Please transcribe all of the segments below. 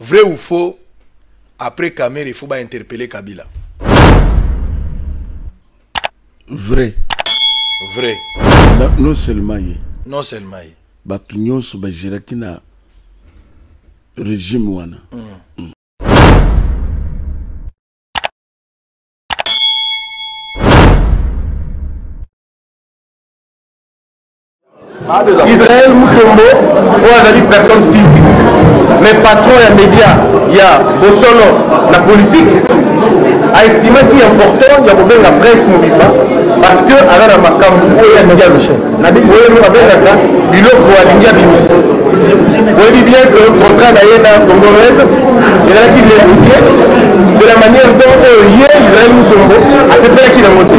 Vrai ou faux, après Kamere, il faut ba interpeller Kabila. Vrai. Vrai. Na, non seulement ye. Non seulement ye. Bato nyonso bageraki na régime wana. Mm. Mm. Israël Mutombo oyo azali personne physique mais patron ya média ya bosolo na politique aestimaki important ya kobenga presse mobimba parce que aza na makambo oyo alingi aloche oyo babengaka biloko alingi abimisa oyebi bien que contrat na ye na congo red ezalaki lesuke de la manière dont oyo ye israel mutombo asepelaki nango te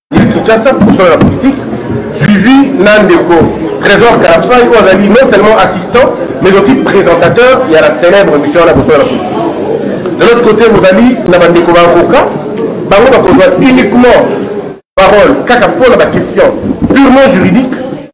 ya kinshasa mosala na politique suivi na ndeko trésor kalafai oyo azali non seulement assistant mais aussi présentateur ya la célèbre émission wana mosala na politique de l'autre côté bozali na bandeko baavocat bango bakozwa uniquement parole kaka mpo na baquestion purement juridique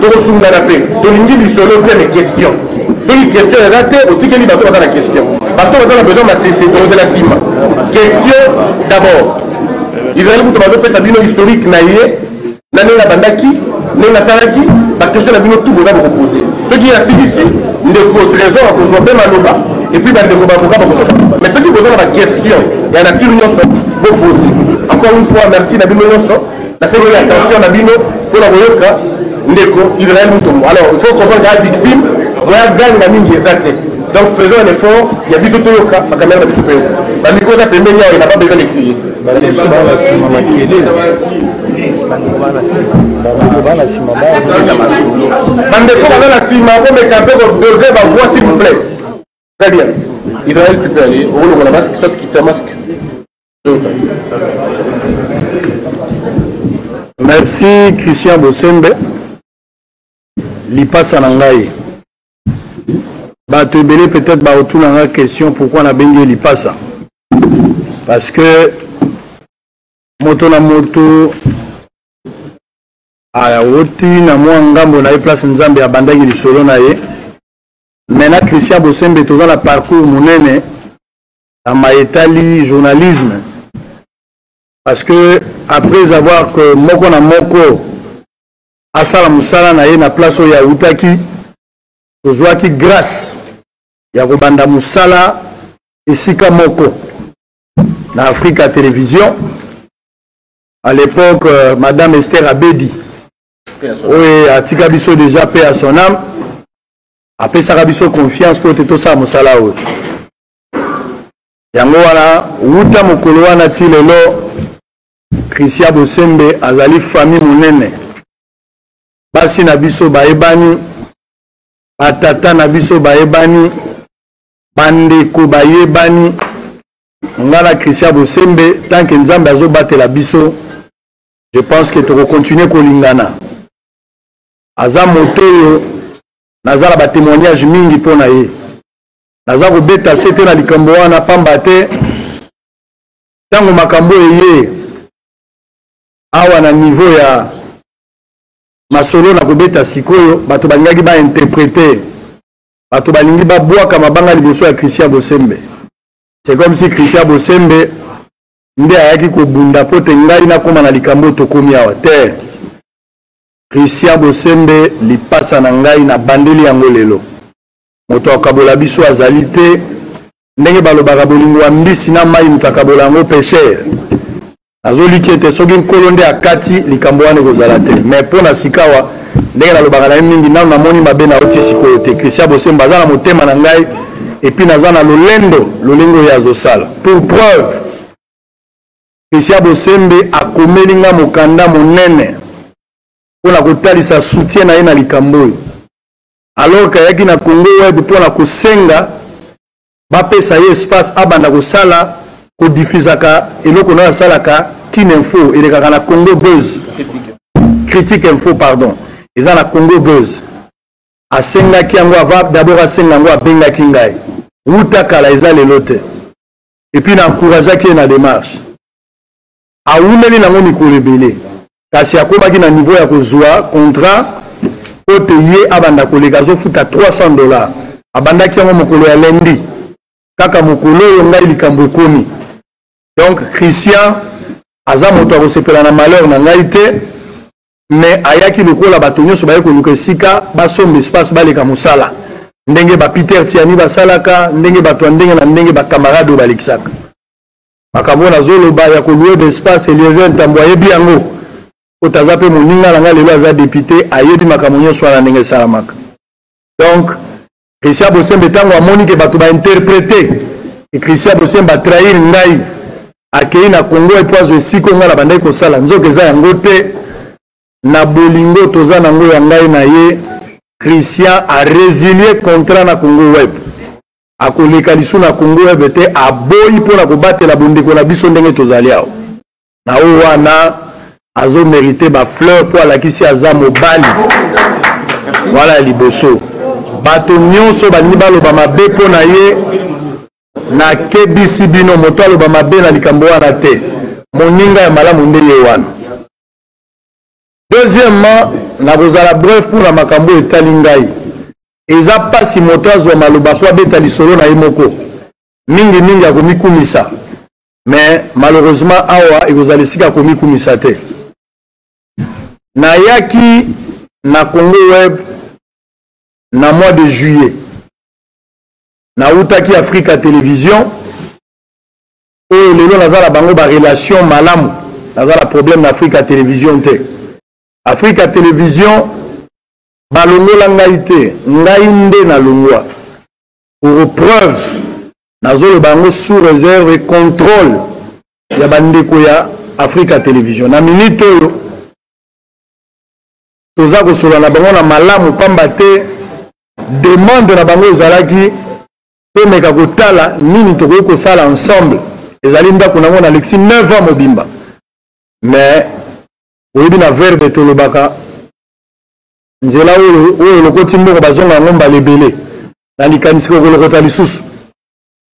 tokosungana mpe tolingi lisolo te na question soki question eza te otikeli bato baza na question bato baza na besoin masese tokozela nsima question d'abord ezali moto bazopesa bino historique na ye na ndenge abandaki ndenge nasalaki bakestion na bino tu boza bokopose soki asilisi ndeko trésor akozwa mpe maloba epuis bandeko bavoka bakozwa mais soki boza na bakestion ya nature nyonso bopose encore une fois merci na bino nyonso Nasengeli attention na bino mpo na koyoka ndeko Israël Mutombo. Alors, il faut comprendre la victime, moya gang na mingi eza te. Donc faisons un effort, ya biso toyoka makamera na biso toyoka. Ba micro za pembeni yao na pas besoin de crier. Ba biso ba na sima makele. bandeko baza na nsima komeka mpe kodose bavoi s'il vous plaît très bien israel tu peux aller okolongola masque soit kitisa masque merci christian bosembe lipasa na ngai bato ebele peut-être baotuna nga question pourquoi nabengi ye lipasa parce que moto na moto awoti ah, na mwa ngambo na ye place nzambe abandaki lisolo na ye me na christian bosembe toza na parcours monene na maye etali journalisme parce que après avoir que moko na moko asala mosala na ye na place oyo awutaki tozwaki grâce ya kobanda mosala esika moko na africa télévision à l'époque euh, madame esther abedi oyo atika biso déjà pe à son âme apesaka biso confiance mpo te tosala mosala oyo yango wana wuta mokolo wana ti lelo christian bosembe azali famille monene basi na biso bayebani batata na biso bayebani bandeko bayebani ngai na christian bosembe tant que nzambe azobatela biso je pense que tokokontinue kolingana aza moto oyo naza na batémoignage mingi mpo na ye naza kobeta se te na likambo wana pamba te ntango makambo eye awa na niveau ya masolo na kobeta sikoyo bato balingaki bainterprete bato balingi babwaka mabanga liboso ya christian bosembe c'est comme si christian bosembe nde ayaki kobunda mpo te ngai nakóma na likambo tokomi awa te christian bosembe lipasa na ngai nabandeli yango lelo moto akabola biso azali te ndenge balobaka bolingo ya mbisi na mai moto akabola yango pesher nazoliki ete soki nkolo nde akati likambo wana ekozala te mais mpo na sikawa ndenge nalobaka na ye mingi nano namoni mabe na oti sikoyo te christian bosemba aza na motema na ngai epuis naza na lolendo lolenge oyo azosala pour preuve christian bosembe akomeli ngai mokanda monene mpo na kotalisa soutien na ye na likambo oyo alors que ayaki na congo web mpo na kosenga bapesa ye espace abanda kosala kodifizaka eloko nayo asalaka kin info elekaka na congo buzz critique info pardon eza na congo buzz asengaki yango ava dabord asenga yango abengaki ngai wuta kala eza lelo te epuis na encourageaki ye na démarche awumeli na yango mikolo ebele kasi akomaki na niveau ya kozwa contrat mpo te ye abanda koleka azofuta 300 dollars abandaki yango mokolo ya lendi kaka mokolo oyo ngai likambo ekomi donc christian aza moto akosepela na malheur na ngai te mais ayaki lokola bato nyonso baye koluka esika basomba espace baleka mosala ndenge ba peter tiani basalaka ndenge bato ya ndenge na ndenge bacamarade oyo balekisaka makambo oyo nazoloba ya kolue d'espace eliezer ntambo ayebi yango po taza mpe moninga na ngai lelo aza depute ayebi makambo nyonso wana ndenge esalamaka donc christian bosembe ntango amoni ke bato bainterprete e christian bosembe atrahir ngai akei na congo epo azwa esika o ngai na bandaki kosala nzoka eza yango te na bolingo toza na yango ya ngai na ye christian arezilie contrat na congo web akoleka lisu na congo ebe te aboyi mpo na kobatela bondeko na biso ndenge tozali awa na oyo wana azomerite bafleur mpo alakisi aza mobali wana ya liboso bato nyonso balingi baloba mabe mpo na ye nakebisi bino moto aloba mabe na likambo wana te moninga ya malamu nde ye wana deuxièmement nakozala bref mpo na makambo oyo etali ngai eza mpasi moto azwa maloba mpo abeta lisolo na ye moko mingimingi akomikumisa mais malheureusement awa ekozala esika akomikumisa te nayaki na congo web na mois de juillet nawutaki africa télévision oyo lelo naza na bango barelation malamu naza na problème na afrika television te afrika television balongola ngai te ngai nde nalongwa pour preuve nazoloba yango sous réserve et contrôle ya bandeko ya afrika television na minute oyo toza kosolola na bango na malamu mpamba te demande na bango ezalaki tomeka kotala nini tokoki kosala ensemble ezali ndako nango nalekisi 9 ans mobimba mais oyebi na verbe tolobaka nzela oyo oyo olokoti mboko bazonga yango mbala ebele na likanisi kokolokota lisusu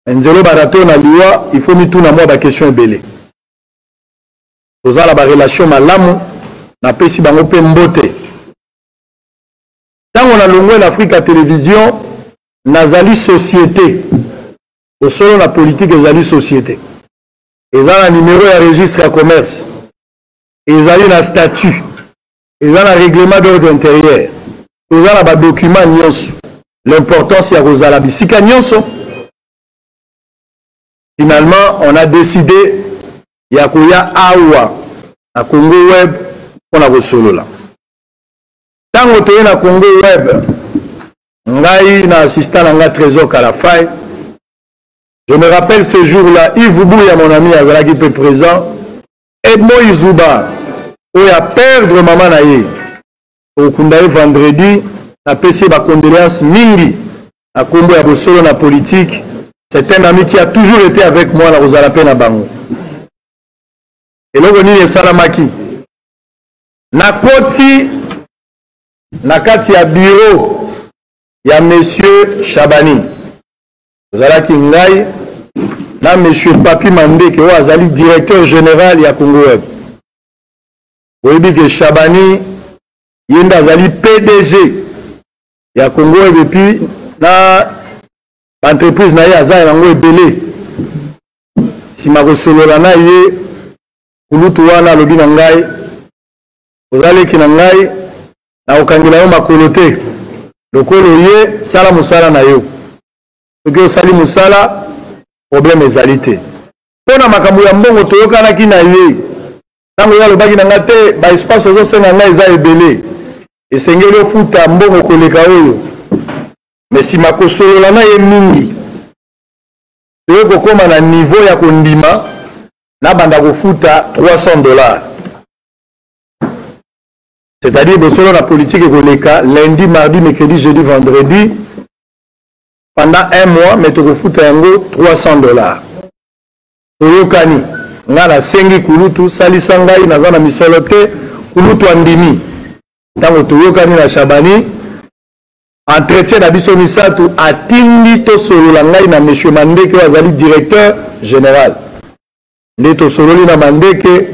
nzela obata to na liwa il faut mituna mwa baquestion ebele tozala barelation malamu napesi bango mpe mbote ntango nalongwe na afrika ya televizio nazali société bosolo na politike ezali société eza na nimero ya registre ya commerce ezali na statut eza na règlement d'ordre intérieur toza na badokima nyonso l'importance ya kozala bisika nyonso finalement on a décidé ya koya awa na congo web mpo na kosolola ntango toye na congo web ngai na assistant na ngai trésor kalafai je me rappelle ce jour là ive buya mon ami azalaki mpe présent edmo izuba oyo aperdre mama na ye okunda ye vendredi napesi ye bacondoléance mingi na nkombo ya bosolo na politike c'est un ami qui a toujours été avec moi na kozala mpe na bango eloko nini esalamaki nakoti na kati ya biro ya monsieur shabani ozalaki ngai na monsieur papi mandeke oyo azali directeur général ya congo web oyebi ke shabani ye nde azali pdg ya congo web epuis na baentreprise na ye aza yango ebele nsima kosolola na ye kulutu wana alobi na ngai oza leki na ngai nakokangela yo makolo te lokola oye sala mosala na yo soki osali mosala problème ezali te mpo na makambo ya mbongo toyokanaki na ye ntango ye alobaki na ngai te baespace ozosenga ngai eza ebele esengeli ofuta mbongo koleka oyo me nsima kosolola na ye mingi toye kokoma na niveau ya kondima nabanda kofuta 300 dollars c'est-à-dire bosolo na politique ekoleka lundi mardi mercredi jeudi vendredi pendant un mois mais tokofuta yango 300 dollars toyokani ngai nasengi kulutu salisa ngai naza na misolo te kulutu andimi ntango toyokani na shabani entretien na biso misato atindi tosolola ngai na monsieur mandeke oyo azali directeur général nde tosololi na mandeke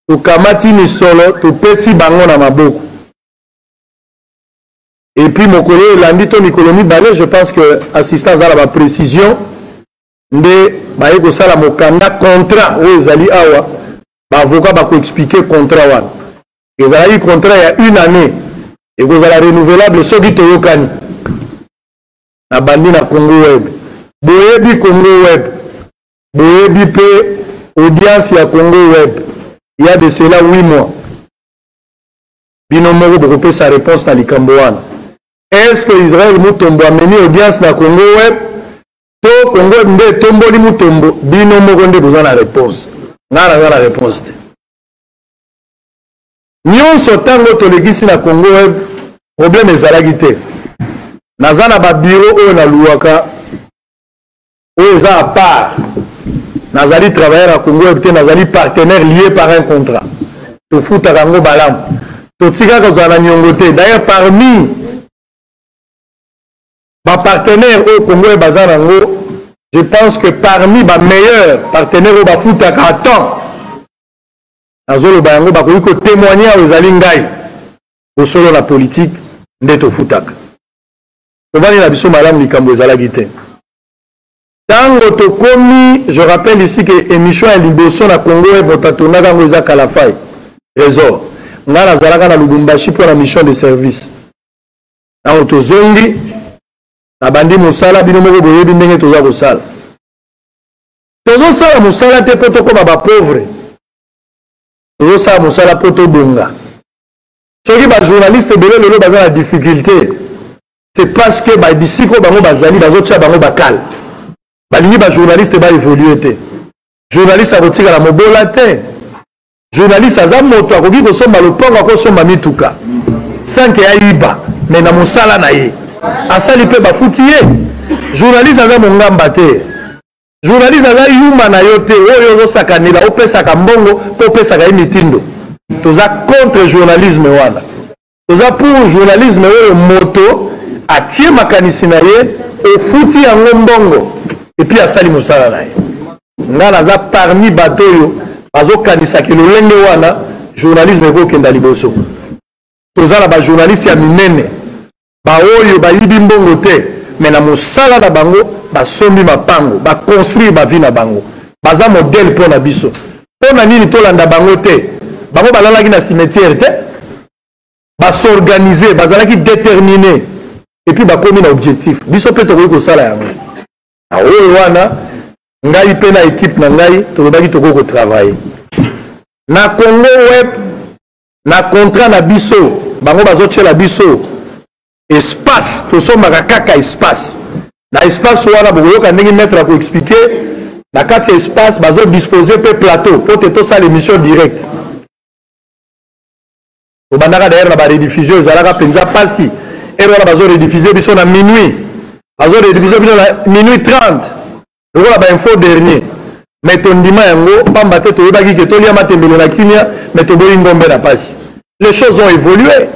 tokamati misolo topesi bango na maboko epuis mokolo oyo elandi to mikolo mibale je pense que assistant aza na baprécision nde baye kosala mokanda contrat oyo ezali awa baavoka bakoexplike contrat wana ezalaki contrat ya une année ekozala renouvelable soki toyokani nabandi na congo web boyebi congo web boyebi mpe audience ya congo web ya de cela 8 mois bino moko bokopesa réponse na likambo wana est ce que israel mutombo amemi audience na congo web to congo web nde etomboli mutombo bino moko nde boza na réponse ngai naza na réponse te nyonso ntango tolekisi na congo web probleme ezalaki te naza na babiro oyo naluwaka oyo eza apart nazali travailleur ya congo web te nazali partenaire lié par un contrat tofutaka yango balamu totika kozala na nyongo te d'ailleurs parmi bapartenaire oyo congo web aza na yango je pense que parmi bameilleur partenaire oyo bafutaka temps nazoloba yango bakoki kotemoigne awa ezali ngai bosolo na politike nde tofutaka tovandi na biso malamu likambo ezalaki te ntango tokomi je rappelle ici ke émission ya liboso na congo web moto atondaka yango eza kalafai trésor ngai nazalaka na lubumbashi mpo na mission de service ntango tozongi nabandi mosala bino moko boyebi ndenge toza kosala tozosala mosala te mpo tokoma bapauvre tozosala mosala mpo tobonga soki bajournaliste ebele lelo baza na difficulté c'est parce que babisika oyo bango bazali bazotya bango bakale balingi bajournaliste baévolue te journaliste akotikala mobola te journaliste aza moto akoki kosomba lopango akosomba mituka sanke ya yiba me na mosala na ye asali mpe bafuti ye journaliste aza mongamba te journaliste aza yuma na yo te oyo ozosakanela opesaka mbongo mpe opesaka ye mitindo toza contre journalisme wana toza pour journalisme oyo moto atie makanisi na ye ofuti yango mbongo epuis asali mosala na ye nga naza parmi bato oyo bazokanisaki lolenge wana journalisme ekokenda liboso toza na bajournaliste ya minene baoyo bayibi mbongo te me na mosala na bango basombi mapango baconstruire bavi na bango baza modele mpo na biso mpo na nini tolanda bango te bango balalaki na cimetière te basorganize bazalaki détermine epuis bakomi na objectif biso mpe tokoki kosala yango na oyo wana ngai mpe na ekipe na ngai tolobaki tokoki kotravaille na congo web na contrat na biso bango bazotyela biso espace tosombaka kaka espace na espace wana bokoyoka ndenge maître ya koexplike na kati ya espace bazodispose mpe plateau mpo te tosala émission directe tobandaka dayere na barediffusion ezalaka mpenza mpasi ere wana bazorediffusie biso na minuit bazorediffusie bino na minuit 30 lokola bainfo dernier me tondima yango mpamba te toyebaki ke tolia matembele na kimia me toboyi ngombe na mpasi les choses ont évolué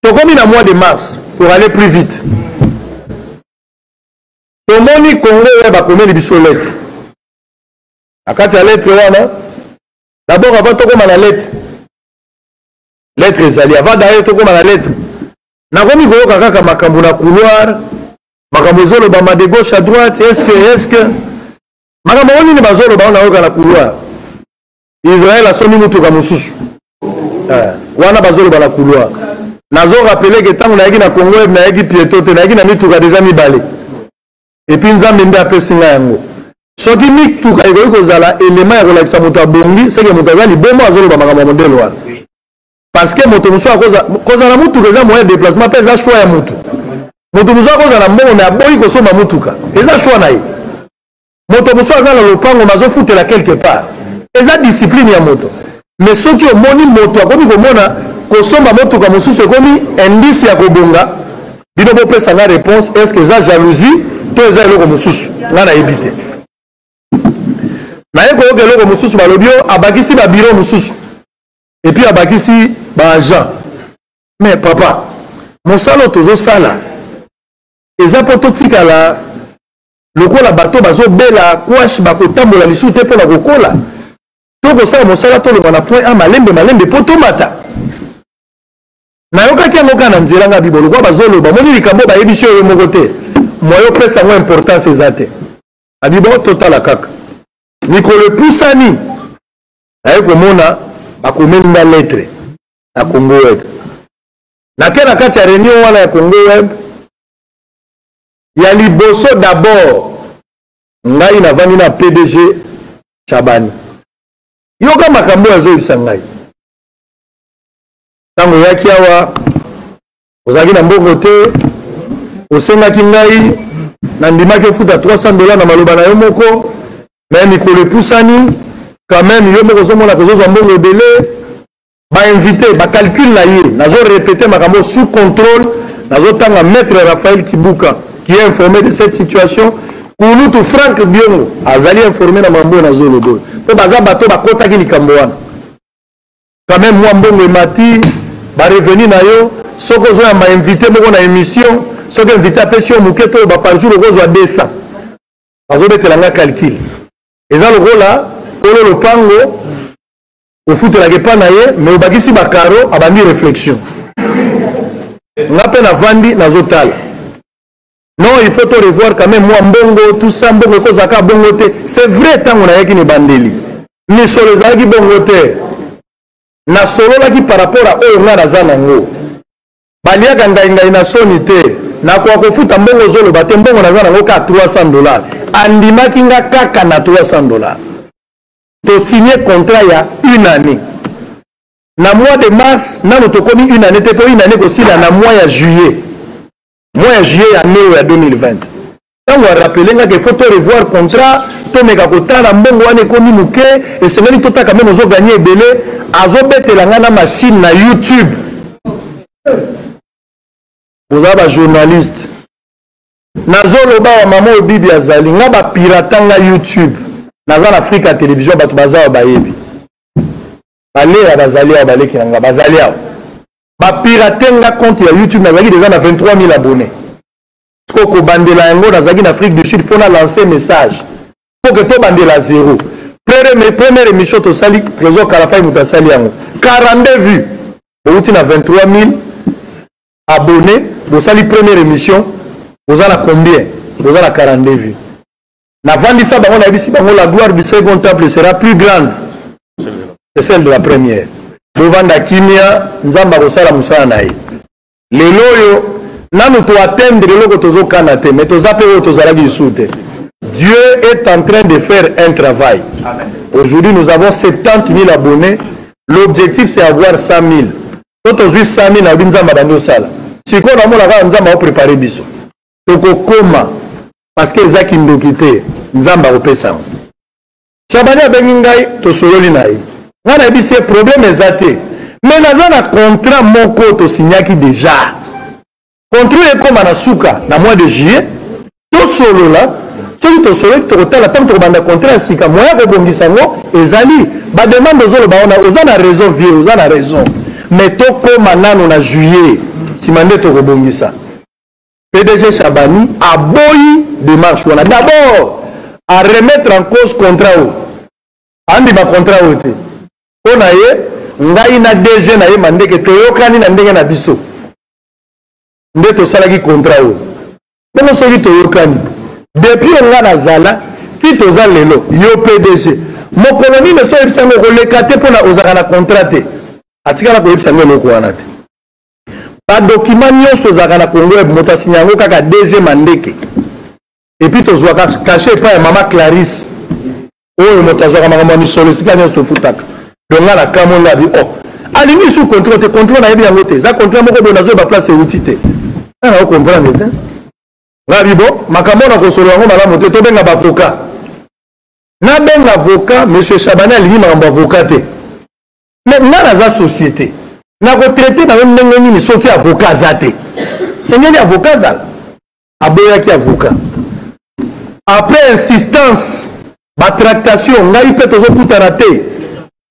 tokomi na mois de mars pour aller plus vite tomoni congo oyo bakomeli biso lettre na kati ya lettre wana dabord avant tokoma na lettre lettre ezali avant daye tokoma na lettre nakomi koyoka kaka makambo na couloir makambo ezolobama de gauche à droite eske eske makambo yango nini bazoloba oyo nayoka na couloir israel asombi motuka mosusu eh, wana bazoloba na couloir nazo rappele ke ntango nayaki na congo eb nayaki pieto te nayaki na mituka deja mibale epuis nzambe nde apesi ngai yango soki mituka ekoki kozala elema ya kolakisa moto abongi seke moto aza libomo azoloba makambo ya modelo wana parce que moto mosusu akozala motuka eza moyen ya déplacement mpe eza choix ya motu moto mosusu akozala na mbongo me aboyi kosomba motuka eza choix na ye moto mosusu aza na lopango mais azofutela quelque part eza discipline ya moto mais soki omoni moto akomi komona kosomba motuka mosusu ekomi indice ya kobonga bino bopesa nga réponse est ce que eza jalousie to eza eloko mosusu nga nayebi te naye koyoka eloko mosusu balobi o abakisi babiro mosusu epuis abakisi baagent mais papa mosala oyo tozosala eza mpo totikala lokola bato bazobela kwashe bakotambola lisusu te mpo na kokola to kosala mosala tolongwa na point a malembe malembe mpo tomata nayokaki yango kaka na nzela ngai bibo lokola bazoloba moni likambo bayebisi oyo moko te moye opesa yango importance eza te abibo totala kaka mikolo epusani naye komona bakomeli nga lettre na congo web nake na kati ya reunion wana ya congo web ya liboso d'abord ngai navandi na pdg chabani yoka makambo oyo azoyebisa ngai ntango oyaki awa ozalaki na mbongo te osengaki ngai nandimaki ofuta 300 dola na maloba na yo moko me mikolo epusani quand meme yo moko ozomona kozozwa mbongo ebele bainvite bacalcule na ye nazo repete makambo sous contrôle nazotanga maître raphaël kibuka qui est informé de cette situation kulutu frank biongo azali informé na mambo oyo nazoloba oyo mpo baza bato bakotaki likambo wana quand même mwa mbongo emati barevenu na yo soki ozoyamba invité moko na émission soki invité apesi yo moke to ba par jour okozwa 200 bazobetela nga calcul eza lokola kolo lopango ofutelaka epa na ye mais obakisi bacaro abandi réflexion nga mpe navandi nazotala non il faut to revoir quand même mwa mbongo tout ça mbongo ekozalaka bongo te c'est vrai ntango nayaki na ebandeli misolo ezalaki bongo te nasololaki par rapport a oyo ngai naza nango baliaka ngaingai na soni te nakoka kofuta mbongo ozoloba te mbongo naza nango kaka 300 dollars andimaki nga kaka na 300 dollars to signe contrat ya une année na mois de mars nano tokomi une année te mpo une année kosila na mois ya juillet mois ya juillet ya année oyo ya 2020 ntango arapele ngaka il faut to revoir contrat tomeka kotala mbongo wana ekomi moke esengeli totaka meme ozo gagne ebele azobetela ngai na machine na youtube boza bajournaliste nazoloba wa mama oyo bibi azali nga bapirata nga youtube naza na afrika ya televizio bato baza awa bayebi baleya bazali awa baleki na nga bazali awa bapirate nga compte ya youtube nazalaki deja na 23 000 abonne siko kobandela yango nazalaki na afrique du sud mpo na lance message mpo ke tobandela zero première émission tosali trésor kalafai moto asali yango 42 vue outi na 23 000 abonne bosali première émission boza na combien boza na 42 vues navandisa bango nayebisi bango la gloire du second temple sera plus grande que celle de la première bovanda kimia nzambe akosala mosala na ye lelo oyo nanu toatteindre eloko tozokana te mais toza mpe oyo tozalaki lisusu te dieu est en train de faire un travail aujourd'hui nous avons 70 000 abonnés l'objectif c'est avoir 100 000 to tozwi sami na yobi nzambe abandi osala sikoyo namona kaka nzambe aoprepare biso tokokoma parceke eza kindoki te nzambe akopesa yango shabani abengi ngai tosololi na ye ngai nayebisi ye probleme eza te me naza na contrat moko tosignaki deja controle ekoma na suka na mois de juillet tosolola soki tosololi tokotala ntango tokobanda contrat ya sika moya kobongisa yango ezali bademande ozoloba wana oza na raison vie oza na raison mais tokóma nano na juillet nsima nde tokobongisa pdg chabani aboyi démarche wana d'abord a remettre en cause contrat oyo andima contrat oyo te mpo na ye ngai na dg na ye mandeke toyokani na ndenge na biso nde tosalaki contrat oyo bongo soki toyokani depuis oyo ngai nazala ti toza lelo yo pdg mokolo nini osi oyebisa yango okoleka te mpona ozalaka na contrat te atikala koyebisa yango eloko wana te badokima nyonso ezalaka na congo web moto asinya yango kaka dg mandeke epuis tozwaka kashe epai ya mama clarisse oyo moto azwaka makambo ya misolo esika nyonso tofutaka donc nga nakamwe nga bi o oh, alingi lisusu controle te controle nayebi yango te eza controle moko boye nazoyeba place euti te nga nao comprendre te nga bi bo makambo na kosolo yango malamu te tobenga bavoka nabenga avoka monsieur chabani alingi makambo avoka te mais nga naza société nakotraite na yo ndenge nini soki avoka aza te sengeli avoka azala aboyaki avocat après insistance batractation ngai mpe tozokutana te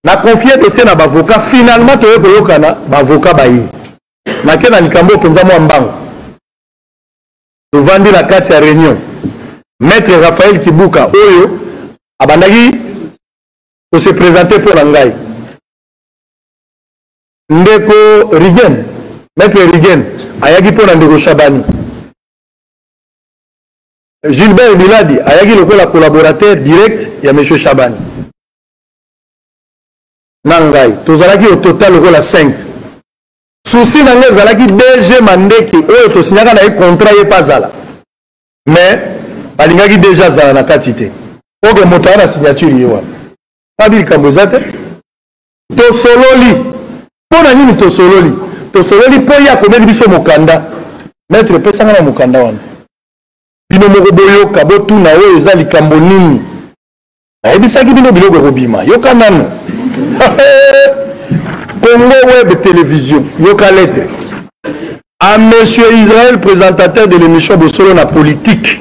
na confie dossier na bavocat finalement toye koyokana bavocat baye nake na likambo mpenza mwa mbango tovandi na kati ya réunion maître raphael kibuka oyo abandaki kose présente mpo na ngai ndeko rigen maître rigen ayaki mpo na ndeko shabani gilbert biladi ayaki lokola collaborateur direct ya monsieur shabani na ngai tozalaki au total lokola 5 susi na ngai ezalaki dg mandeke oyo tosinyaka na ye contrat ye mpe azala mais balingaki deja azala na kati te oke moto aya na signature ye wana abi likambo eza te tosololi mpo na nini tosololi tosololi mpo ye akomeli biso mokanda maitre epesanga na mokanda wana bino moko boyoka botuna oyo eza likambo nini ayebisaki bino biloko ekobima yoka nano congo web television yoka lete a monsieur israel présentateur de l'émission bosolo na politique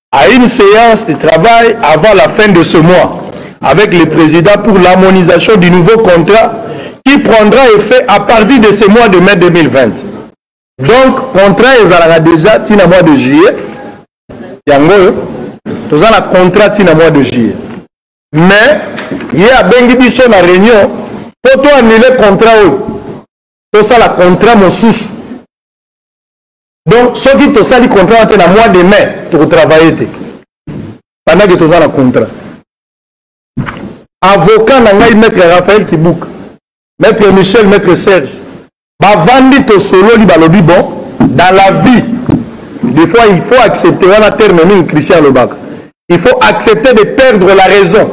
à une séance de travail avant la fin de ce mois avec le président pour l'harmonisation du nouveau contrat qui prendra effet à partir de ce mois de mai 2020. Donc, contrat ezalaka déjà ti na mois de juillet. Yango oyo toza na contrat ti na mois de juillet. Mais ye abengi biso na réunion mpo to annule contrat oyo tosala contrat mosusu donc soki tosali contrat wana te na mois de mai tokotravaille te bandaki toza na contrat avocat na ngai maître raphaël kibuka maître michel maître serge bavandi tosololi balobi bon dans la vie des fois il faut accepter wana terme mingi christian alobaka il faut accepter de perdre la raison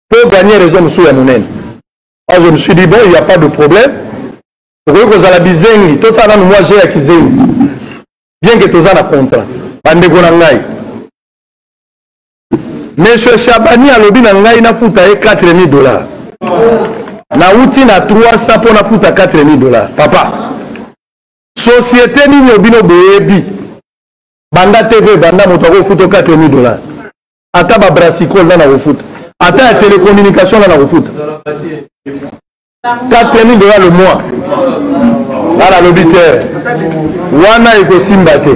pour gagner raison mosusu ya monene moi je me suis dit bon il n'y a pas de problème tokoki kozala bizengi tosala nanu mwa je ya kizengi bien ke toza na contrat bandeko na ngai monsieur shabani alobi na ngai nafuta ye 4000 dollars nauti na 300 mpo nafuta 4000 dollars papa société nini obino boyebi banda tv banda moto akofuta 4000 dollars ata babrasicole nana kofuta ata ya telecommunication nana kofuta kati ya midola lomwa nga nalobi te wana ekosimba te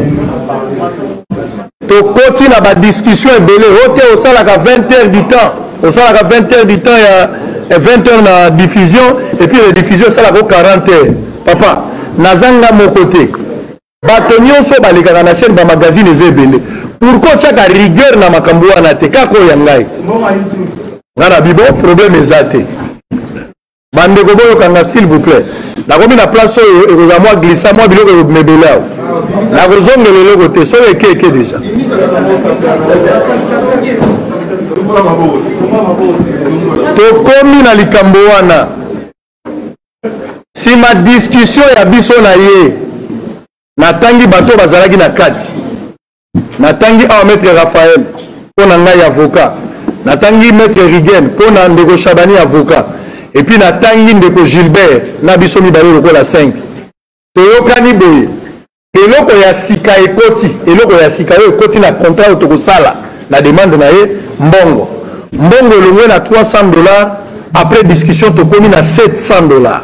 tokoti na badiscussion ebele o te osalaka 20 heures du temps osalaka 20 heures du temps ya 20 heures na diffusion epuis rediffusion esalaka o 40 heures papa naza nga moko te bato nyonso balekaka na chaîne bamagazine eza ebele pourkui otyaka rigueur na makambo wana te kaka oyo ya ngai nga na bibo problème eza te bandeko boyoka nga s'il vous plaît nakomi na place oyo ekozala mwa glissa mwa biloko ekobimebele awa nakozongela eloko te soki eke eke deja tokomi na likambo wana nsima diskusio ya biso na ye natangi bato bazalaki na kati natangi awa maître raphael mpo na ngai avocat natangi maître rigen mpo na ndeko shabani avocat epuis natangi ndeko gilbert na biso mibale lokola 5 toyokani boye eloko ya sika ekoti eloko ya sika oyo ekoti na contrat oyo tokosala na demande na ye mbongo mbongo elongwe na 300 dollars après discussion tokomi na 700 dollars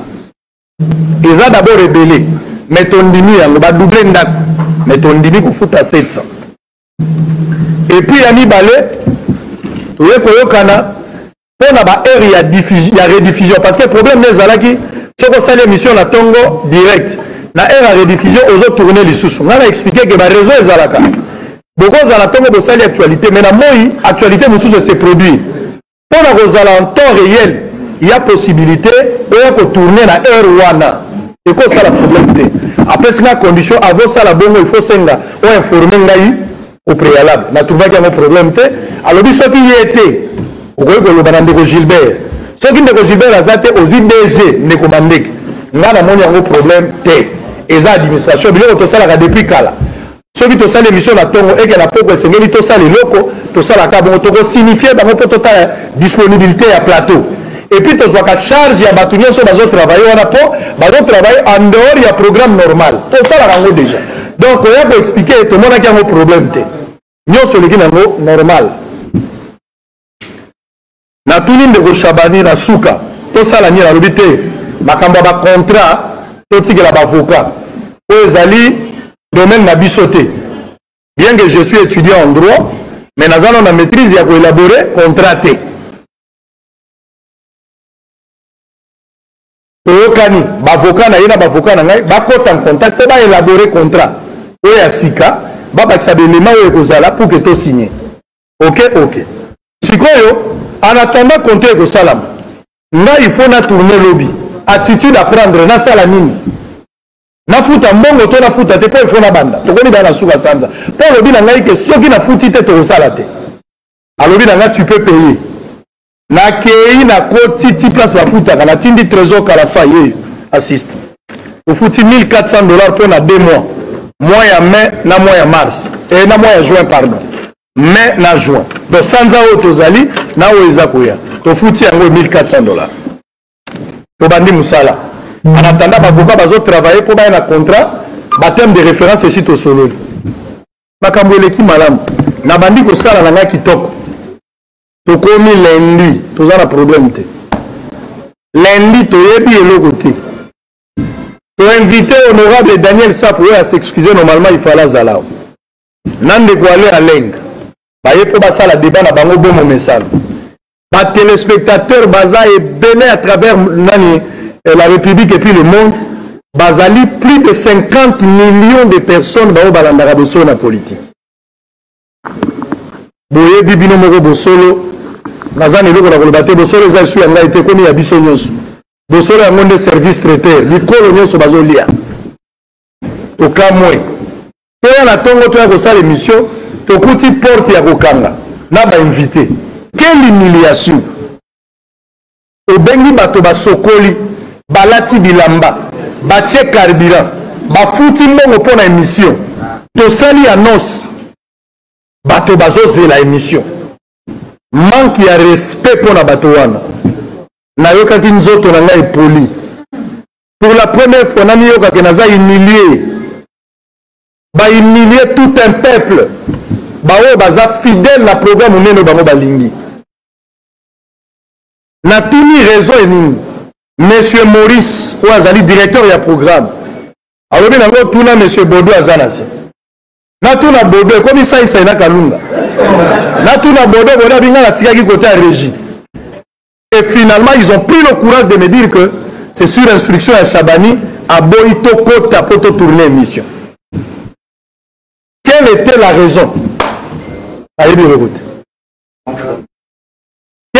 eza d'abord ebele mais tondimi yango badouble ndako mais tondimi kofuta 700 epuis ya mibale toye koyokana mpo na baheure ya, ya rediffusion parce que problème nde ezalaki soki osali émission na ntongo direct na heure ya rediffusion ozo tourne lisusu ngai na explike ke bareseau ezalaka bokozala ntongo bosali actualité mais na moi actualité mosusu ese produire mpo na kozala en temps réel ya possibilité oya kotourne na heure wana ekosala problème te apesi nga condition avosala bongo il faut senga oinforme ngai au préalable na trouvaki yango problème te alobi soki ye te okoki koloba na ndeko gilbert soki ndeko gilbert aza te ozwi dg ndeko mandeke ngai namoni yango problème te eza administration biloko tosalaka depuis kala soki tosali emission na ntongo eke na pokwa esengeli tosala eloko tosalaka bongo tokosinifie bango mpo totala disponibilité ya plateau epuis tozwaka charge ya bato nyonso bazotravaille wana mpo bazotravaille en dehors ya programme normal tosalaka yango déjà donc koya koexplike tomonaki yango problème te nyonso eleki na yango normal natuni ndeko shabani na suka tosala nini alobi te makambo ya bacontrat totikela bavoka oyo ezali domaine na biso te bien que je suis étudiant en droit mais naza nao na maîtrise ya koélabore contrat te toyokani bavoka na ye na bavoka na ngai bakota en contact mpo baélabore contrat oyo ya sika babakisa baelema oyo ekozala pour ke tosigne ok ok sikoyo en attendant konte ekosalama ngai il faut na tourne lobi attitude à prendre nasala nini nafuta mbongo to nafuta te mpo il faut nabanda tokomi baa na suka sanza mpo olobi na ngai ke soki nafuti te tokosala te alobi na ngai tu peux payer nakei na koti ti place bafutaka natindi trésor kalafa ye assiste tofuti 1400 dollars mpo na 2 mois mois ya mai na mois ya mars e, na mois ya juin pardon mai na juin donc sanza oyo tozali na oyo eza koya tofuti yango 1400 dollars tobandi mosala en attendant bavoka bazotravaille mpo baya na contrat bateme de référence esi tosololi makambo eleki malamu nabandi kosala na ngai kitoko tokomi lundi toza na problème te lundi toyebi eloko te toinvite honorable daniel safu oyo asexcuse normalement ifale azala na ndeko ale alenga baye mpo basala débat na bango bo momesano batelespectateur baza ebele à travers nani eh, la république et puis le monde bazali plus de 50 millions de personnes baoyo balandaka bosolo na politique boyebi bino moko bosolo naza na eloko na koloba te bosolo eza esu ya ngai te ekomi ya biso nyonso bosolo yango nde service traiteur mikolo nyonso bazolia tokamwe toya na ntongo toya kosala emission tokuti porte ya kokanga na bainvite quelle humiliation obengi bato basokoli balati bilamba batie carburant bafuti mbongo mpo na émission tosali annonce bato bazozela émission manque ya respect mpo na bato wana nayokaki nzoto na ngai epoli pour la première fois namiyokake naza humilie bahumilie tout un peuple baoyo baza fidèle na programme monene bango balingi natuni raison ya nini monsieur maurice oyo azali directeur ya programme alobi nango tuna monsieur bodo aza na se natuna bodo ekomi saisai na kalunga natuna bodo bodo abinga natikaki kote ya régie et finalement ils ont pris le courage de me dire que c'est sur instruction ya shabani aboyi tokota mpo totourne émission quelle était la raison ayebi eloko te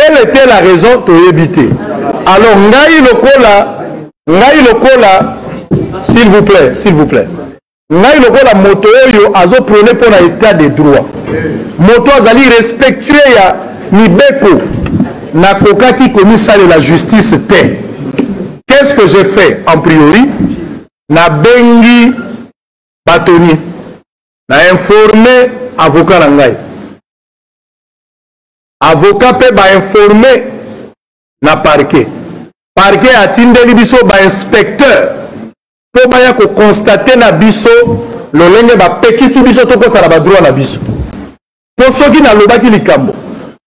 quelle était la raison toyebi te alors ngai lokola ngai lokola s'il vous plaît s'il vous plaît ngai lokola moto oyo azoprone mpo na état de droit moto azali respectueux ya mibeko nakokaki komisalela justice te qu'est-ce que je fais en priori nabengi batoni na informe avocat na ngai avocat mpe bainforme na parquet parquet atindeli biso bainspecteur mpo baya kokonstate na biso lolenge bapekisi biso tokota na badroit na biso mpo soki nalobaki likambo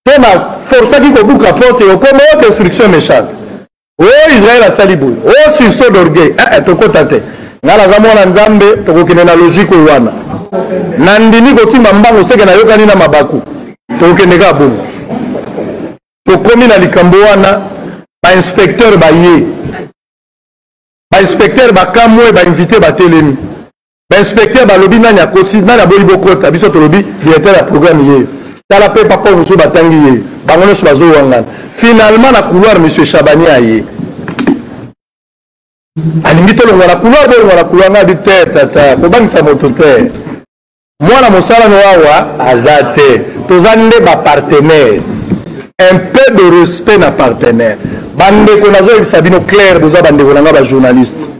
mpo na forsaki kobuka porte yokoma yo destruction méchante o oh, israel asali boye o oh, sursaut d'orgueil eh, eh, tokota te ngai naza mwana nzambe tokokende na logike oyo wana nandimi kokima mbango seke nayokani na mabaku tokokende kaka bongo tokomi na likambo wana bainspecteur baye bainspecteur bakamwe bainvite batelemi inspecteur balobi nani akosi nani aboyi bokota biso tolobi directeur ya programme yeyo tala mpe papa mosusu batangi yeyo bango nyonso bazowangana finalement na couloir monsieur chabani aye alingi tolongwa na couloir bolongwa na couloir ngabi te tata kobangisa moto te mwana mosala no awa aza te toza nde bapartenaire un peu de respect na partenaire bandeko nazoyebisa bino claire boza bandeko na ngai bajournaliste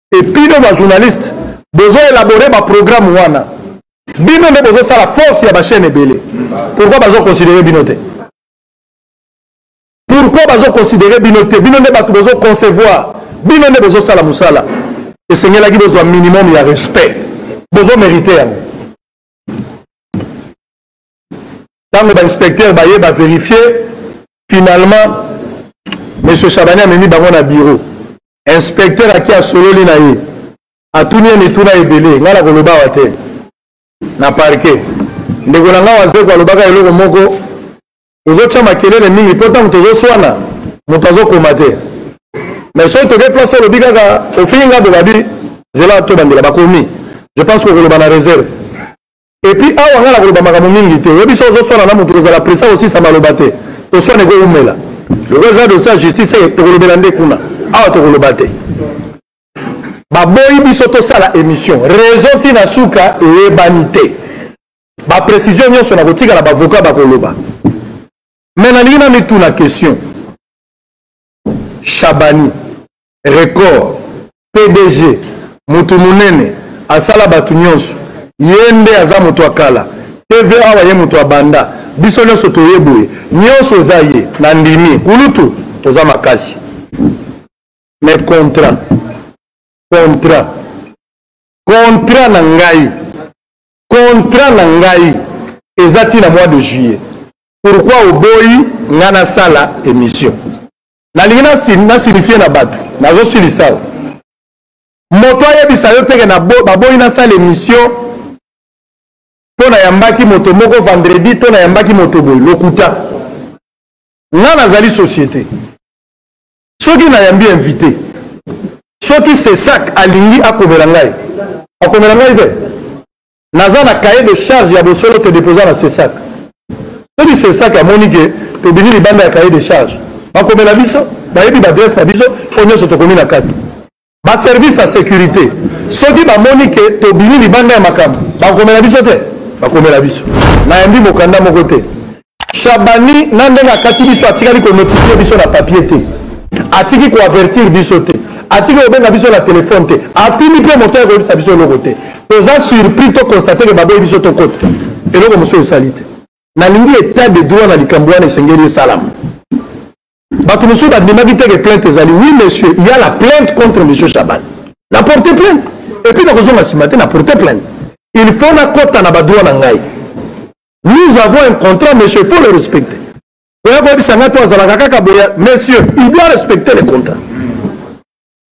et bino ba journaliste bozo élaborer ba programme wana bino nde bozosala force ya bachaîne ebele pourquoi bazoconsidere bino te pourquoi bazoconsidere bino te bino nde bato bozoconcevoir bino nde bozosala mosala esengelaki bozwa minimum ya respect bozomérite yango ntango bainspecteur baye baverifie finalement monsieur chabani amemi bango na bureau inspecteur aki asololi na ye atuni ye mituna ebele ngai nakoloba awa te na parke ndeko na ngai wazeko alobaka eloko moko tozotya makelele mingi mpo ntango tozoswana moto azokoma te mais soki toke place olobi kaka ofingi ngai bobabi zela tobandela bakomi je pense kokoloba na réserve epuis awa ngai nakoloba makambo mingi te oyebi so ozoswana na moto kozala presa kosisa maloba te toswana ekoumela lokola eza dosi ya justice eh, tokolobela nde kuna awa tokoloba te baboyi biso tosala émission raison ti na suka eyebani te baprécision nyonso na kotikala bavoka bakoloba me nalingi na mituna question shabani record pdg motu monene asala bato nyonso ye nde aza moto ya kala tv awa ye moto abanda biso nyonso toye boye nyonso eza ye na ndimi kulutu oza makasi mais contrat contrat contrat na ngai contrat na ngai eza ti na mois de juillet pourquoi oboyi ngai nasala émission nalingi nasignifie na bato nazosilisa o moto ayebisa yo teke baboyi nasala émission mpo nayambaki moto moko vendredi to nayambaki moto boye lokuta ngai nazali société soki nayambi invité soki sesak alingi akomela ngai akomela ngai te naza na cahier de charge ya bosolo te deposa na sesak soki sesak amoni ke tobimi libanda ya cahier de charge bakomela biso bayebi baadresse na biso oyo nyonso tokomi na kati baservice ya sécurité soki bamoni ke tobimi libanda ya makambo bakomela biso te bakomela biso nayambi mokanda moko te shabani na ndenge akati biso atikali konotifie biso na papier te atiki koavertir biso te atiki kobenga biso na telefone te atuni mpe moto ya koyebisa biso eloko te toza surpris to constate ke baboyi biso tokota eloko mosusu esali te nalingi etat de droit na likambo wana esengeli esalama bato mosusu bandimaki te ke plainte ezali oui monsieur ya la plainte contre monsieur chaban na porte plainte epuis nakozonga nsima te na porte plainte il faut nakota na badroit na ngai nous avons un contrat monsieur faut le respecter oya koyebisa ngai to azalaka kaka boya monsieur il doit respecter le contrat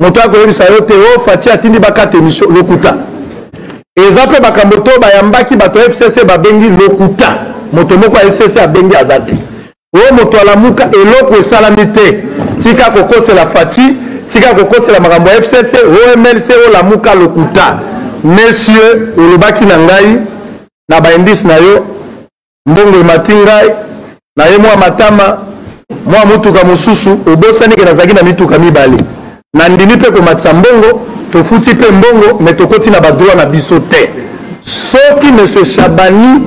moto akoyebisa yo te o oh, faci atindi bakata emission lokuta eza mpe makambo to bayambaki bato ya fcc babengi lokuta moto moko ya fcc abengi aza te o oh, moto alamuka eloko esalami te tika kokosela faci tika kokosela makambo ya fcc omlc oh, olamuka lokuta monsieur olobaki na ngai na baindice na yo mbongo emati ngai na ye mwa matama mwa motuka mosusu obosani ke nazalaki na mituka mibale nandimi mpe komatisa mbongo tofuti mpe mbongo me tokoti na badroit na biso te soki monsieur chabani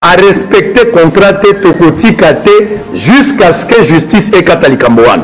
arespecte contrat te tokotika te jusqu'à ce que justice ekata likambo wana